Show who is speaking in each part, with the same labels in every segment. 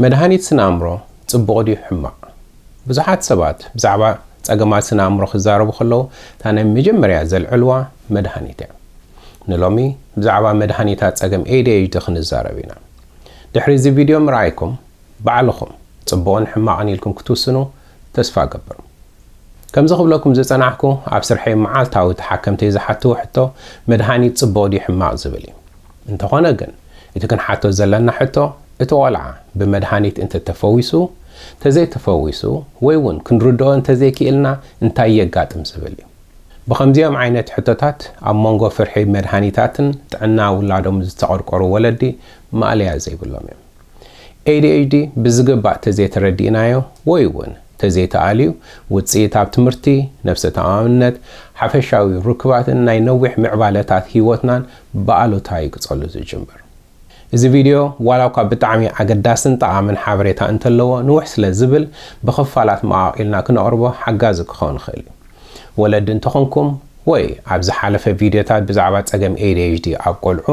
Speaker 1: መድሃኒት ስነ-ኣእምሮ ጽቡቕ ድዩ ሕማቕ? ብዙሓት ሰባት ብዛዕባ ጸገማት ስነ-ኣእምሮ ክዛረቡ ከለዉ እታ ናይ መጀመርያ ዘልዕልዋ መድሃኒት እያ። ንሎሚ ብዛዕባ መድሃኒታት ጸገም ADHD ክንዛረብ ኢና። ድሕሪ እዚ ቪድዮ ምርኣይኩም ባዕልኹም ጽቡቕን ሕማቕን ኢልኩም ክትውስኑ ተስፋ እገብር። ከምዚ ክብለኩም ዝጸናሕኩ ኣብ ስርሐይ መዓልታዊ ተሓከምተይ ዝሓትዎ ሕቶ መድሃኒት ጽቡቕ ድዩ ሕማቕ ዝብል እዩ። እንተኾነ ግን እቲ ክንሓቶ ዘለና ሕቶ እቲ ቆልዓ ብመድሃኒት እንተተፈዊሱ፣ ተዘይተፈዊሱ ወይ ውን ክንርድኦ እንተዘይኪኢልና እንታይ የጋጥም ዝብል እዩ። ብኸምዚኦም ዓይነት ሕቶታት ኣብ ሞንጎ ፍርሒ መድሃኒታትን ጥዕና ውላዶም ዝተቐርቆሩ ወለዲ ማእለያ ዘይብሎም እዮም። ADHD ብዝግባእ ተዘይተረዲእናዮ ወይ'ውን ተዘይተኣልዩ ውጽኢት ኣብ ትምህርቲ፣ ነብሰ ተኣማምነት፣ ሓፈሻዊ ርክባትን ናይ ነዊሕ ምዕባለታት ህይወትናን ብኣሉታ እዩ ክጸሉ ዝጅምር። እዚ ቪድዮ ዋላ'ኳ ብጣዕሚ ኣገዳስን ጠቓምን ሓበሬታ እንተለዎ ንውሕ ስለ ዝብል ብኽፋላት መቓቒልና ክነቕርቦ ሓጋዚ ክኸውን ይኽእል እዩ። ወለዲ እንተኾንኩም ወይ ኣብ ዝሓለፈ ቪድዮታት ብዛዕባ ጸገም ADHD ኣብ ቆልዑ፣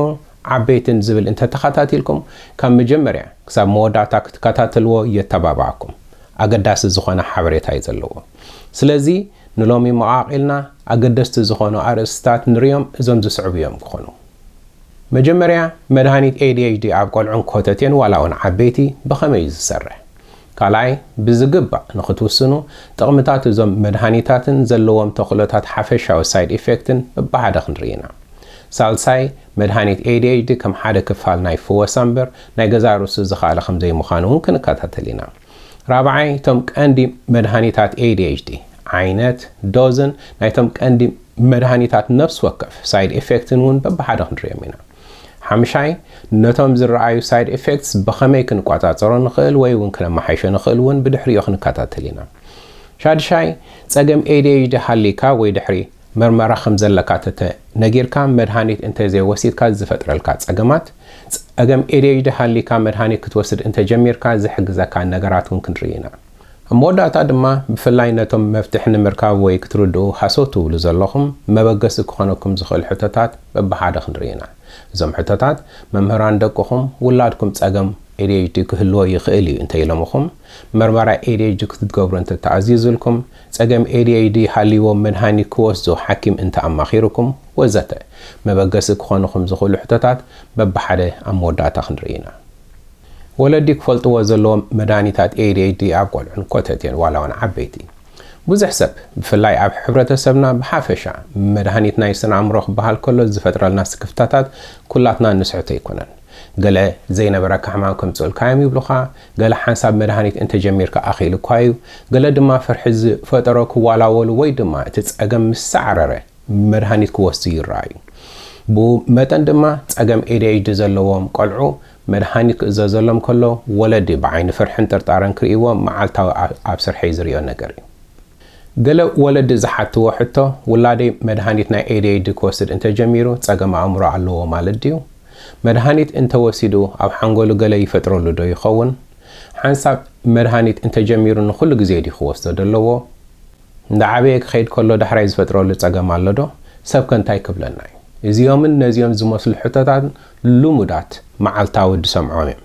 Speaker 1: ዓበይትን ዝብል እንተተኻታቲልኩም ካብ መጀመርያ ክሳብ መወዳእታ ክትከታተልዎ የተባብዓኩም ኣገዳሲ ዝኾነ ሓበሬታ እዩ ዘለዎ ስለዚ ንሎሚ መቓቒልና ኣገደስቲ ዝኾኑ ኣርእስትታት ንርዮም እዞም ዝስዕቡ እዮም ክኾኑ መጀመርያ መድሃኒት ADHD ኣብ ቆልዑን ኮተቴን ዋላውን ዓበይቲ ብኸመይ እዩ ዝሰርሕ ካልኣይ፣ ብዝግባእ ንኽትውስኑ፣ ጥቕምታት እዞም መድሃኒታትን ዘለዎም ተኽእሎታት ሓፈሻዊ ሳይድ ኢፌክትን በብሓደ ክንርኢ ኢና። ሳልሳይ፣ መድሃኒት ADHD ከም ሓደ ክፋል ናይ ፍወሳ እምበር ናይ ገዛእ ርእሱ ዝኸኣለ ከም ዘይምዃኑ እውን ክንከታተል ኢና። ራብዓይ፣ እቶም ቀንዲ መድሃኒታት ADHD፣ ዓይነት፣ ዶዝን ናይቶም ቀንዲ መድሃኒታት ነፍሲ ወከፍ ሳይድ ኢፌክትን እውን በብሓደ ክንርእዮም ኢና። ሓምሻይ፣ ነቶም ዝረኣዩ ሳይድ ኤፌክትስ ብኸመይ ክንቆጻጸሮ ንኽእል ወይ እውን ክነመሓይሾ ንኽእል እውን ብድሕሪኡ ክንከታተል ኢና። ሻድሻይ፣ ጸገም ADHD ሃልይካ ወይ ድሕሪ መርመራ ከም ዘለካ ተተ ነጊርካ መድሃኒት እንተ ዘይወሲድካ ዝፈጥረልካ ጸገማት፣ ጸገም ADHD ሃልይካ መድሃኒት ክትወስድ እንተ ጀሚርካ ዝሕግዘካ ነገራት እውን ክንርኢ ኢና። ኣብ መወዳእታ ድማ ብፍላይ ነቶም መፍትሒ ንምርካብ ወይ ክትርድኡ ሃሰው ትብሉ ዘለኹም መበገሲ ክኾነኩም ዝኽእል ሕቶታት በብሓደ ክንርኢ ኢና። እዞም ሕቶታት መምህራን ደቅኹም፣ ውላድኩም ጸገም ADHD ክህልዎ ይኽእል እዩ እንተ ኢሎምኹም፣ መርመራ ADHD ክትትገብሩ እንተ ተኣዚዙልኩም፣ ጸገም ADHD ሃልይዎም መድሃኒት ክወስዱ ሓኪም እንተ ኣማኺሩኩም ወዘተ መበገሲ ክኾኑኹም ዝኽእሉ ሕቶታት በብሓደ ኣብ መወዳእታ ክንርኢ ኢና። ወለዲ ክፈልጥዎ ዘለዎም መድሃኒታት ADHD ኣብ ቆልዑን ኮተቴን ዋላውን ዓበይቲ። ብዙሕ ሰብ ብፍላይ ኣብ ሕብረተሰብና ብሓፈሻ መድሃኒት ናይ ስነኣእምሮ ክበሃል ከሎ ዝፈጥረልና ስክፍታታት ኩላትና እንስሕቶ ኣይኮነን። ገለ ዘይነበረካ ሕማም ከምጽኡልካዮም ይብሉኻ፣ ገለ ሓንሳብ መድሃኒት እንተጀሚርካ ኣኺሉኳ'ዩ፣ ገለ ድማ ፍርሒ ዝፈጠሮ ክዋላወሉ ወይ ድማ እቲ ጸገም ምስ ሳዕረረ፣ መድሃኒት ክወስዱ ይረኣዩ። ብኡ መጠን ድማ ጸገም ኤዲኤችዲ ዘለዎም ቈልዑ መድሃኒት ክእዘዘሎም ከሎ ወለዲ ብዓይኒ ፍርሕን ጥርጣረን ክርእይዎ መዓልታዊ ኣብ ስርሐይ ዝርእዮ ነገር እዩ። ገለ ወለዲ ዝሓትዎ ሕቶ ውላደይ መድሃኒት ናይ ኤዲኤችዲ ክወስድ እንተ ጀሚሩ ጸገም ኣእምሮ ኣለዎ ማለት ድዩ? መድሃኒት እንተ ወሲዱ ኣብ ሓንጎሉ ገለ ይፈጥረሉዶ ይኸውን? ሓንሳብ መድሃኒት እንተ ጀሚሩ ንኹሉ ግዜ ድዩ ክወስዶ ደለዎ? እንዳዓበየ ክኸይድ ከሎ ዳሕራይ ዝፈጥረሉ ጸገም ኣሎዶ? ሰብከ እንታይ ክብለና እዩ? እዚኦምን ነዚኦን ዝመስሉ ሕቶታት ልሙዳት መዓልታዊ ወዲ ሰምዖም እዮም።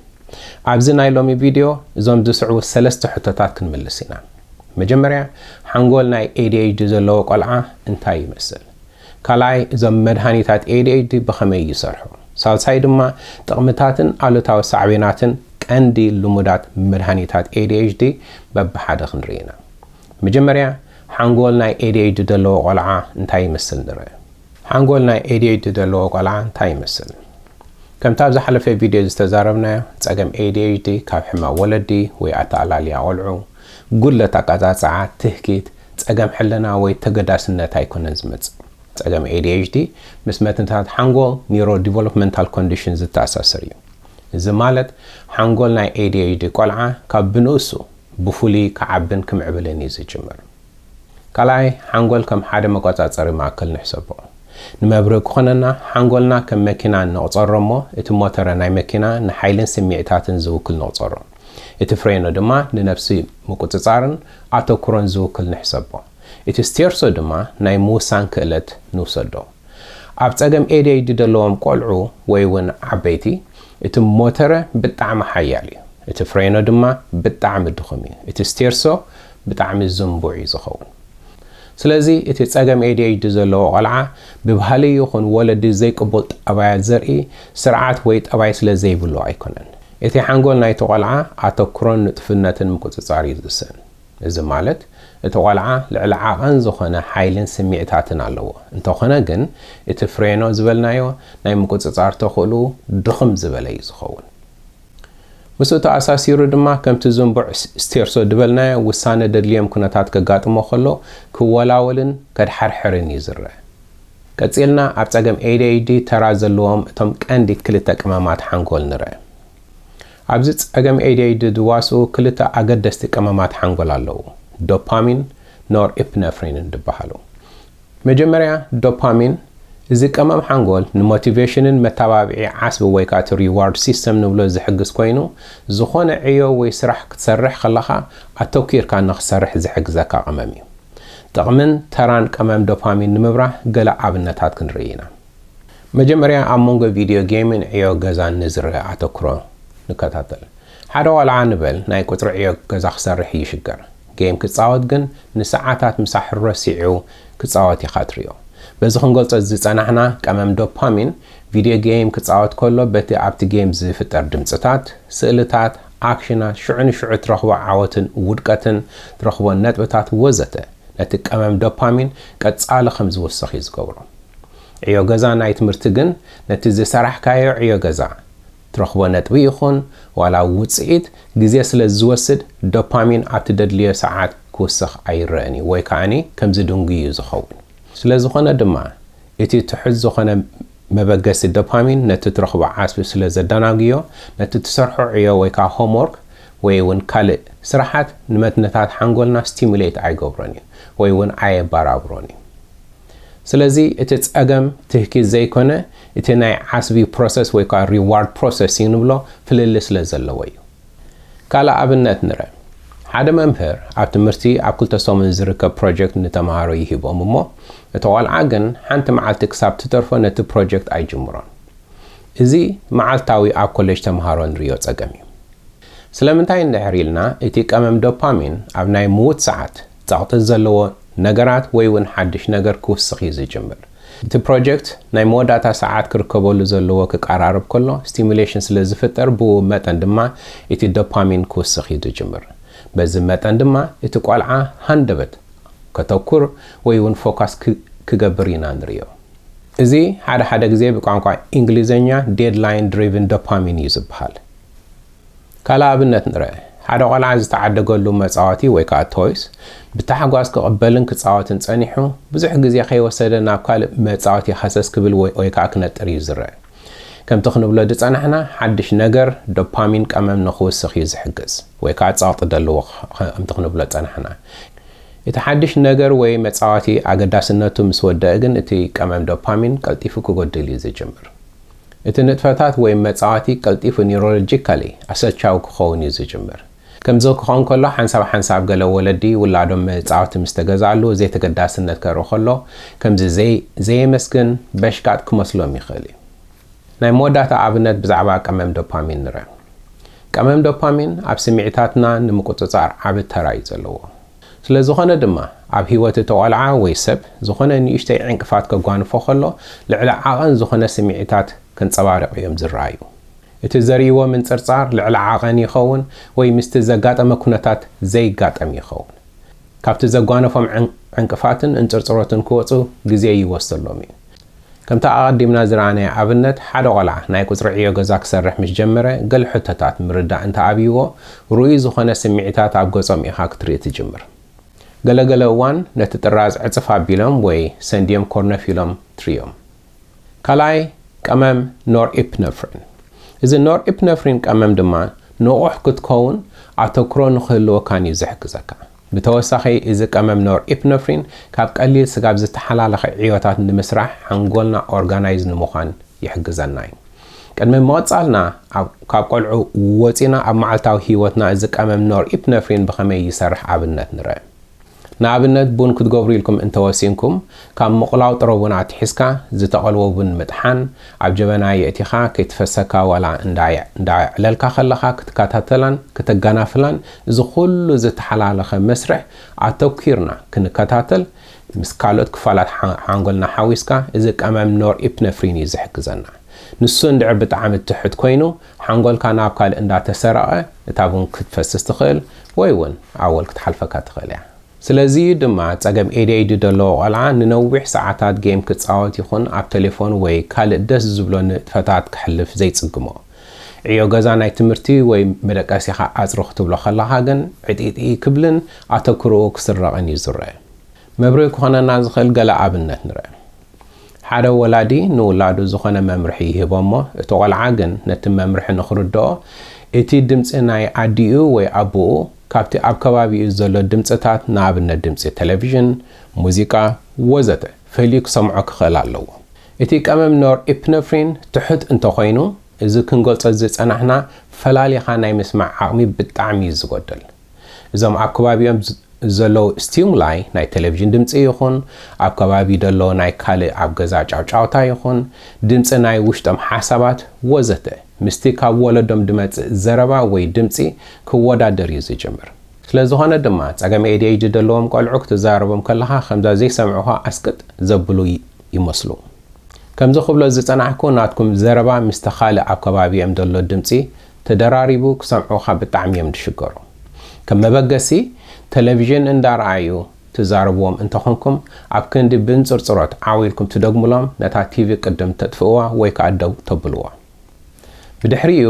Speaker 1: ኣብዚ ናይ ሎሚ ቪድዮ እዞም ዝስዕቡ ሰለስተ ሕቶታት ክንምልስ ኢና። መጀመርያ ሓንጎል ናይ ADHD ዘለዎ ቆልዓ እንታይ ይመስል? ካልኣይ እዞም መድሃኒታት ADHD ብኸመይ ይሰርሑ? ሳልሳይ ድማ ጥቕምታትን ኣሉታዊ ሳዕቤናትን ቀንዲ ልሙዳት መድሃኒታት ADHD በብሓደ ክንርኢ ኢና። መጀመርያ ሓንጎል ናይ ኤዲኤይዲ ዘለዎ ቆልዓ እንታይ ይመስል ንርእ። ሓንጎል ናይ ኤዲኤይዲ ዘለዎ ቆልዓ እንታይ ይመስል? ከምቲ ኣብ ዝሓለፈ ቪድዮ ዝተዛረብናዮ ጸገም ኤዲኤይዲ ካብ ሕማም ወለዲ ወይ ኣተኣላልያ ቆልዑ፣ ጉድለት ኣቀጻጽዓ፣ ትህኪት፣ ጸገም ሕልና ወይ ተገዳስነት ኣይኮነን ዝመጽእ። ጸገም ኤዲኤይዲ ምስ መትንታት ሓንጎል፣ ኒውሮዲቨሎፕመንታል ኮንዲሽን፣ ዝተኣሳሰር እዩ። እዚ ማለት ሓንጎል ናይ ኤዲኤይዲ ቆልዓ ካብ ብንእሱ ብፍሉይ ክዓብን ክምዕብልን እዩ ዝጅምር። ካልኣይ፣ ሓንጎል ከም ሓደ መቆጻጸሪ ማእከል ንሕሰቦ። ንመብርሂ ክኾነና፣ ሓንጎልና ከም መኪና ንቕጸሮ እሞ እቲ ሞተረ ናይ መኪና ንሓይልን ስምዒታትን ዝውክል ንቕጸሮ። እቲ ፍሬኖ ድማ ንነብሲ ምቁጽጻርን ኣተኩሮን ዝውክል ንሕሰቦ። እቲ ስቴርሶ ድማ ናይ ምውሳን ክእለት ንውሰዶ። ኣብ ጸገም ADHD ዘለዎም ቆልዑ ወይ ውን ዓበይቲ እቲ ሞተረ ብጣዕሚ ሓያል እዩ እቲ ፍሬኖ ድማ ብጣዕሚ ድኹም እዩ እቲ ስቴርሶ ብጣዕሚ ዝንቡዕ እዩ ዝኸውን ስለዚ እቲ ጸገም ADHD ዘለዎ ቆልዓ ብባህሊ ይኹን ወለዲ ዘይቅቡል ጠባያት ዘርኢ ስርዓት ወይ ጠባይ ስለ ዘይብሉ ኣይኮነን እቲ ሓንጎል ናይቲ ቆልዓ ኣተኩሮን ንጡፍነትን ምቁጽጻር እዩ ዝውሰን እዚ ማለት እቲ ቆልዓ ልዕሊ ዓቐን ዝኾነ ሓይልን ስሚዕታትን ኣለዎ። እንተኾነ ግን እቲ ፍሬኖ ዝበልናዮ ናይ ምቁጽጻር ተኽእልኡ ድኽም ዝበለ እዩ ዝኸውን። ምስኡ ተኣሳሲሩ ድማ ከምቲ ዝንቡዕ ስቴርሶ ድበልናዮ ውሳነ ደድልዮም ኩነታት ከጋጥሞ ከሎ ክወላወልን ከድሓርሕርን እዩ ዝረእ። ቀጺልና ኣብ ጸገም ADHD ተራ ዘለዎም እቶም ቀንዲ ክልተ ቅመማት ሓንጎል ንረእ። ኣብዚ ጸገም ADHD ዝዋስኡ ክልተ ኣገደስቲ ቀመማት ሓንጎል ኣለዉ፣ ዶፓሚን፣ ኖርኢፕነፍሪንን ዝበሃሉ። መጀመርያ ዶፓሚን፣ እዚ ቀመም ሓንጎል ንሞቲቬሽንን መተባብዒ ዓስቢ ወይ ከኣ እቲ ሪዋርድ ሲስተም ንብሎ ዝሕግዝ ኮይኑ፣ ዝኾነ ዕዮ ወይ ስራሕ ክትሰርሕ ከለኻ ኣተኲርካ ንኽትሰርሕ ዝሕግዘካ ቀመም እዩ። ጥቕምን ተራን ቀመም ዶፓሚን ንምብራህ ገለ ኣብነታት ክንርኢ ኢና። መጀመርያ ኣብ መንጎ ቪድዮ ጌምን ዕዮ ገዛን ንዝረኣ ኣተኩሮ ንከታተል። ሓደ ቆልዓ ንበል ናይ ቁጽሪ ዕዮ ገዛ ክሰርሕ ይሽገር። ጌም ክጻወት ግን ንሰዓታት ምሳሕ ረሲዑ ክጻወት ኢኻ ትሪኦ። በዚ ክንገልጾ ዝጸናሕና ቀመም ዶፓሚን ቪድዮ ጌም ክጻወት ከሎ በቲ ኣብቲ ጌም ዝፍጠር ድምጽታት፣ ስእልታት፣ ኣክሽናት፣ ሽዑ ንሽዑ ትረኽቦ ዓወትን ውድቀትን፣ ትረኽቦ ነጥብታት ወዘተ ነቲ ቀመም ዶፓሚን ቀጻሊ ከም ዝውስኽ እዩ ዝገብሮ። ዕዮ ገዛ ናይ ትምህርቲ ግን ነቲ ዝሰራሕካዮ ዕዮ ገዛ ትረኽቦ ነጥቢ ይኹን ዋላ ውጽኢት ግዜ ስለ ዝወስድ ዶፓሚን ኣብ ትደድልዮ ሰዓት ክውስኽ ኣይረእን እዩ ወይ ከኣኒ ከም ዝድንጉይ እዩ ዝኸውን። ስለ ዝኾነ ድማ እቲ ትሑት ዝኾነ መበገሲ ዶፓሚን ነቲ ትረኽቦ ዓስቢ ስለ ዘዳናጉዮ ነቲ ትሰርሖ ዕዮ ወይ ከኣ ሆምዎርክ ወይ እውን ካልእ ስራሓት ንመትንታት ሓንጎልና ስቲሙሌት ኣይገብሮን እዩ ወይ እውን ኣየባራብሮን እዩ። ስለዚ እቲ ጸገም ትህኪት ዘይኮነ እቲ ናይ ዓስቢ ፕሮሰስ ወይ ከኣ ሪዋርድ ፕሮሰሲንግ ንብሎ ፍልልይ ስለ ዘለዎ እዩ። ካልእ ኣብነት ንረ። ሓደ መምህር ኣብ ትምህርቲ ኣብ ክልተ ሰሙን ዝርከብ ፕሮጀክት ንተመሃሮ ይህቦም እሞ እቲ ቆልዓ ግን ሓንቲ መዓልቲ ክሳብ ትተርፎ ነቲ ፕሮጀክት ኣይጅምሮን። እዚ መዓልታዊ ኣብ ኮሌጅ ተመሃሮ ንርእዮ ጸገም እዩ። ስለምንታይ እንድሕር ኢልና እቲ ቀመም ዶፓሚን ኣብ ናይ ምዉት ሰዓት፣ ጸቕጢ ዘለዎ ነገራት ወይ እውን ሓድሽ ነገር ክውስኽ እዩ ዝጅምር። እቲ ፕሮጀክት ናይ መወዳእታ ሰዓት ክርከበሉ ዘለዎ ክቀራረብ ከሎ ስቲሙሌሽን ስለ ዝፍጠር ብኡ መጠን ድማ እቲ ዶፓሚን ክውስኽ እዩ ዝጅምር። በዚ መጠን ድማ እቲ ቆልዓ ሃንደበት ከተኩር ወይ እውን ፎካስ ክገብር ኢና ንርእዮ። እዚ ሓደ ሓደ ግዜ ብቋንቋ ኢንግሊዘኛ ዴድላይን ድሪቭን ዶፓሚን እዩ ዝበሃል። ካልእ ኣብነት ንርኣ። ሓደ ቈልዓ ዝተዓደገሉ መጻወቲ ወይ ከኣ ቶይስ ብታሕጓስ ክቕበልን ክጻወትን ጸኒሑ፣ ብዙሕ ግዜ ከይወሰደ ናብ ካልእ መጻወቲ ሃሰስ ክብል ወይ ከኣ ክነጥር እዩ ዝርኣ። ከምቲ ክንብሎ ዝጸናሕና፣ ሓድሽ ነገር ዶፓሚን ቀመም ንኽውስኽ እዩ ዝሕግዝ ወይ ከኣ ጸቕጢ ዘለዎ ከምቲ ክንብሎ ዝጸናሕና። እቲ ሓድሽ ነገር ወይ መጻወቲ ኣገዳስነቱ ምስ ወደኣ ግን እቲ ቀመም ዶፓሚን ቀልጢፉ ክጎድል እዩ ዝጅምር። እቲ ንጥፈታት ወይ መጻወቲ ቀልጢፉ ኒውሮሎጂካሊ ኣሰልቻዊ ክኸውን እዩ ዝጅምር። ከምዚ ክኸውን ከሎ ሓንሳብ ሓንሳብ ገለ ወለዲ ውላዶም መጻወቲ ምስ ተገዝኣሉ ዘይተገዳስነት ከርኢ ከሎ ከምዚ ዘይ ዘየመስግን በሽቃጥ ክመስሎም ይኽእል እዩ። ናይ መወዳእታ ኣብነት ብዛዕባ ቀመም ዶፓሚን ንርኣ። ቀመም ዶፓሚን ኣብ ስምዒታትና ንምቁጽጻር ዓቢ ተራ እዩ ዘለዎ። ስለ ዝኾነ ድማ፣ ኣብ ህይወት እቲ ቆልዓ ወይ ሰብ ዝኾነ ንእሽተይ ዕንቅፋት ከጓንፎ ከሎ ልዕሊ ዓቐን ዝኾነ ስምዒታት ከንጸባርቕ እዮም ዝረኣዩ። እቲ ዘርእይዎ ምንጽርጻር ልዕሊ ዓቐን ይኸውን ወይ ምስቲ ዘጋጠመ ኩነታት ዘይጋጠም ይኸውን። ካብቲ ዘጓነፎም ዕንቅፋትን እንጽርጽሮትን ክወጹ ግዜ ይወስደሎም እዩ። ከምቲ ኣቐዲምና ዝረኣናዮ ኣብነት፣ ሓደ ቈልዓ ናይ ቍጽሪ ዕዮ ገዛ ክሰርሕ ምስ ጀመረ፣ ገለ ሕቶታት ምርዳእ እንተ ኣብዩዎ፣ ርኡይ ዝዀነ ስምዒታት ኣብ ገጾም ኢኻ ክትርኢ ትጅምር። ገለ ገለ እዋን ነቲ ጥራዝ ዕጽፍ ኣቢሎም ወይ ሰንዲዮም ኮርነፍ ኢሎም ትርእዮም። ካልኣይ ቀመም ኖርኢፕነፍሪን። እዚ ኖርኢፕነፍሪን ቀመም ድማ ንቑሕ ክትከውን ኣተኵሮ ንኽህልወካን እዩ ዝሕግዘካ። ብተወሳኺ እዚ ቀመም ኖርኢፕነፍሪን ካብ ቀሊል ስጋብ ዝተሓላለኸ ዕዮታት ንምስራሕ ሓንጎልና ኦርጋናይዝ ንምዃን ይሕግዘና እዩ። ቅድሚ ምቕጻልና ኣብ ካብ ቆልዑ ወጺና ኣብ መዓልታዊ ህይወትና እዚ ቀመም ኖርኢፕነፍሪን ብኸመይ ይሰርሕ ኣብነት ንርእ። ንኣብነት ቡን ክትገብሩ ኢልኩም እንተወሲንኩም ካብ ምቑላው ጥረ ቡን ኣትሒዝካ ዝተቐልወ ቡን ምጥሓን፣ ኣብ ጀበና የእቲኻ ከይትፈሰካ ዋላ እንዳኣዕለልካ ከለኻ ክትከታተላን ክተጋናፍላን እዚ ኩሉ ዝተሓላለኸ መስርሕ ኣተኲርና ክንከታተል ምስ ካልኦት ክፋላት ሓንጎልና ሓዊስካ እዚ ቀመም ኖርኢፕነፍሪን እዩ ዝሕግዘና ንሱ እንድዕር ብጣዕሚ ትሑት ኮይኑ ሓንጎልካ ናብ ካልእ እንዳተሰረቐ እታ ቡን ክትፈስስ ትኽእል ወይ እውን ኣወል ክትሓልፈካ ትኽእል እያ። ስለዚ እዩ ድማ ጸገም ኤዲኤይዲ ደለዎ ቆልዓ ንነዊሕ ሰዓታት ጌም ክጻወት ይኹን ኣብ ተሌፎን ወይ ካልእ ደስ ዝብሎ ንጥፈታት ከሕልፍ ዘይጽግሞ። ዕዮ ገዛ ናይ ትምህርቲ ወይ መደቀሲኻ ኣጽሪ ክትብሎ ከለኻ ግን ዕጢጢ ክብልን ኣተኩሮኡ ክስረቕን እዩ ዝረእ። መብርሂ ክኾነና ዝኽእል ገለ ኣብነት ንረእ። ሓደ ወላዲ ንውላዱ ዝኾነ መምርሒ ይህቦ እሞ እቲ ቆልዓ ግን ነቲ መምርሒ ንኽርደኦ እቲ ድምጺ ናይ ኣዲኡ ወይ ኣቡኡ ካብቲ ኣብ ከባቢኡ ዘሎ ድምጽታት ንኣብነት ድምጺ ተለቪዥን፣ ሙዚቃ፣ ወዘተ ፈልዩ ክሰምዖ ክኽእል ኣለዎ። እቲ ቀመም ኖርኢፕነፍሪን ትሑት እንተኾይኑ እዚ ክንገልጾ ዝጸናሕና ፈላሊኻ ናይ ምስማዕ ዓቕሚ ብጣዕሚ እዩ ዝጎድል። እዞም ኣብ ከባቢኦም ዘለዉ ስቲሙላይ ናይ ተለቪዥን ድምጺ ይኹን ኣብ ከባቢ ዘሎ ናይ ካልእ ኣብ ገዛ ጫውጫውታ ይኹን ድምጺ ናይ ውሽጦም ሓሳባት ወዘተ ምስቲ ካብ ወለዶም ድመጽእ ዘረባ ወይ ድምጺ ክወዳደር እዩ ዝጅምር። ስለ ዝኾነ ድማ ጸገም ADHD ደለዎም ቆልዑ ክትዛረቦም ከለኻ ከምዛ ዘይሰምዑኻ ኣስቅጥ ዘብሉ ይመስሉ። ከምዚ ክብሎ ዝጸናሕኩ ናትኩም ዘረባ ምስቲ ካልእ ኣብ ከባቢኦም ደሎ ድምጺ ተደራሪቡ ክሰምዑኻ ብጣዕሚ እዮም ድሽገሩ። ከም መበገሲ ተለቪዥን እንዳረኣዩ ትዛረብዎም እንተኾንኩም ኣብ ክንዲ ብእንጽርጽሮት ዓው ኢልኩም ትደግሙሎም ነታ ቲቪ ቅድም ተጥፍእዋ ወይ ከኣ ደው ተብልዎ። ብድሕሪኡ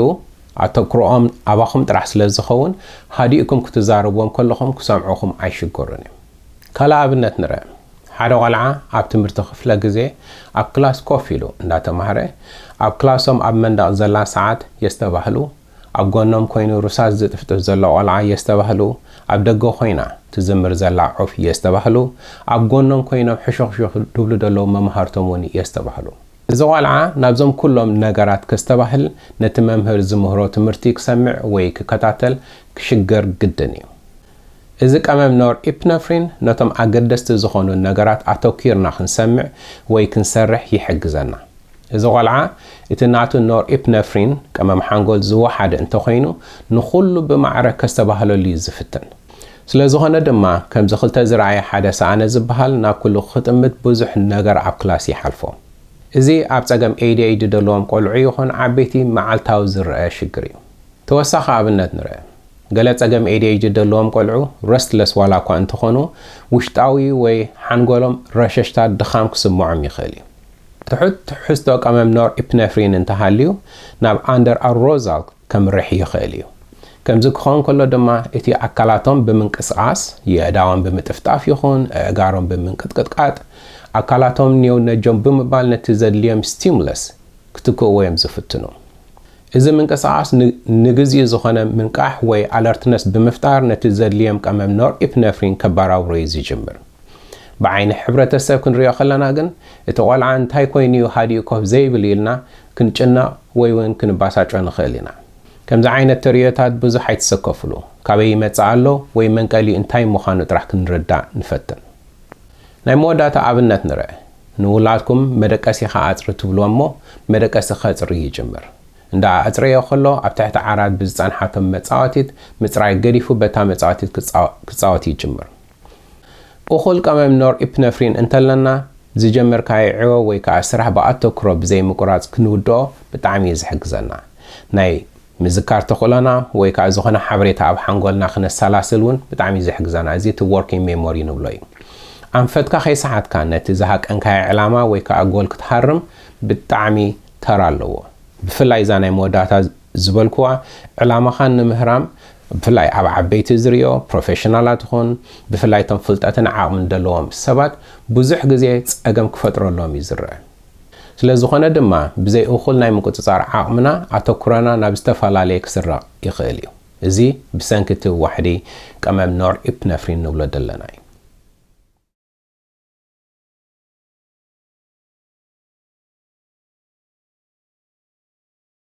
Speaker 1: ኣተኩሮኦም ኣባኹም ጥራሕ ስለ ዝኸውን ሃዲእኩም ክትዛረብዎም ከለኹም ክሰምዑኹም ኣይሽገሩን እዮም። ካልእ ኣብነት ንርኣ። ሓደ ቆልዓ ኣብ ትምህርቲ ክፍለ ግዜ ኣብ ክላስ ኮፍ ኢሉ እንዳተማህረ ኣብ ክላሶም ኣብ መንደቕ ዘላ ሰዓት የስተባህሉ ኣብ ጎኖም ኮይኑ ሩሳስ ዝጥፍጥፍ ዘሎ ቆልዓ እየስተባህሉ ኣብ ደገ ኮይና ትዝምር ዘላ ዑፍ እየስተባህሉ ኣብ ጎኖም ኮይኖም ሕሹኽሹኽ ድብሉ ደለዉ መማህርቶም ውን እየስተባህሉ። እዚ ቆልዓ ናብዞም ኩሎም ነገራት ከስተባህል ነቲ መምህር ዝምህሮ ትምህርቲ ክሰምዕ ወይ ክከታተል ክሽገር ግድን እዩ። እዚ ቀመም ኖር ኢፕነፍሪን ነቶም ኣገደስቲ ዝኾኑ ነገራት ኣተኲርና ክንሰምዕ ወይ ክንሰርሕ ይሕግዘና። እዚ ቆልዓ እቲ ናቱ ኖርኢፕነፍሪን፣ ቀመም ሓንጎል፣ ዝወሓደ እንተኾይኑ ንኹሉ ብማዕረ ከስተባህለሉ እዩ ዝፍትን። ስለዝኾነ ድማ ከምዚ ክልተ ዝረኣየ ሓደ ሰኣነ ዝበሃል ናብ ኩሉ ክጥምት ብዙሕ ነገር ኣብ ክላስ ይሓልፎ። እዚ ኣብ ጸገም ADHD ዘለዎም ቆልዑ ይኹን ዓበይቲ መዓልታዊ ዝረኣ ሽግር እዩ። ተወሳኺ ኣብነት ንርኣ። ገለ ጸገም ADHD ዘለዎም ቆልዑ ረስትለስ ዋላኳ እንተኾኑ ውሽጣዊ ወይ ሓንጎሎም ረሸሽታ ድኻም ክስምዖም ይኽእል እዩ። ትሑት ትሕዝቶ ቀመም ኖርኢፕነፍሪን እንተሃልዩ ናብ ኣንደርኣሮዛል ከምርሕ ይኽእል እዩ። ከምዚ ክኸውን ከሎ ድማ እቲ ኣካላቶም ብምንቅስቓስ፣ የእዳዎም ብምጥፍጣፍ ይኹን ኣእጋሮም ብምንቅጥቅጥቃጥ፣ ኣካላቶም ኔው ነጀው ብምባል ነቲ ዘድልዮም ስቲሙለስ ክትክእዎ እዮም ዝፍትኑ። እዚ ምንቅስቓስ ን ንግዚኡ ዝኾነ ምንቃሕ ወይ ኣለርትነስ ብምፍጣር ነቲ ዘድልዮም ቀመም ኖርኢፕነፍሪን ከባራብሮ እዩ ዝጅምር። ብዓይኒ ሕብረተሰብ ክንሪኦ ከለና ግን እቲ ቆልዓ እንታይ ኮይኑ እዩ ሃዲኡ ኮፍ ዘይብል ኢልና ክንጭነቕ ወይ ውን ክንባሳጮ ንኽእል ኢና። ከምዚ ዓይነት ተርእዮታት ብዙሕ ኣይትሰከፍሉ። ካበይ ይመጽእ ኣሎ ወይ መንቀሊኡ እንታይ ምዃኑ ጥራሕ ክንርዳእ ንፈትን። ናይ መወዳእታ ኣብነት ንርእ። ንውላድኩም መደቀሲኻ ኣጽሪ ትብልዎ እሞ መደቀሲ ከጽሪ ይጅምር። እንዳ ኣጽረዮ ከሎ ኣብ ትሕቲ ዓራት ብዝጸንሓቶም መጻወቲት ምጽራይ ገዲፉ በታ መጻወቲት ክጻወት ይጅምር። እኹል ቀመም ኖርኢፕነፍሪን እንተለና፣ ዝጀመርካዮ ዕዮ ወይ ከኣ ስራሕ ብኣተኩሮ ብዘይምቁራጽ ክንውድኦ ብጣዕሚ እዩ ዝሕግዘና። ናይ ምዝካር ተኽእሎና ወይ ከኣ ዝኾነ ሓበሬታ ኣብ ሓንጎልና ክነሰላስል ውን ብጣዕሚ እዩ ዝሕግዘና፣ እዚ እቲ ዎርኪንግ ሜሞሪ ንብሎ እዩ። ኣንፈትካ ከይሰሓትካ ነቲ ዝሃቀንካዮ ዕላማ ወይ ከኣ ጎል ክትሃርም ብጣዕሚ ተራ ኣለዎ። ብፍላይ እዛ ናይ መወዳእታ ዝበልኩዋ ዕላማኻ ንምህራም ብፍላይ ኣብ ዓበይቲ ዝሪኦ ፕሮፌሽናላት ይኹን ብፍላይ እቶም ፍልጠትን ዓቕምን ዘለዎም ሰባት ብዙሕ ግዜ ፀገም ክፈጥረሎም እዩ ዝረኣ። ስለዝኾነ ድማ ብዘይ እኹል ናይ ምቁፅፃር ዓቕምና ኣተኩሮና ናብ ዝተፈላለየ ክስረቕ ይኽእል እዩ። እዚ ብሰንኪ እቲ ዋሕዲ ቀመም ኖርኢፕነፍሪን ንብሎ ዘለና እዩ።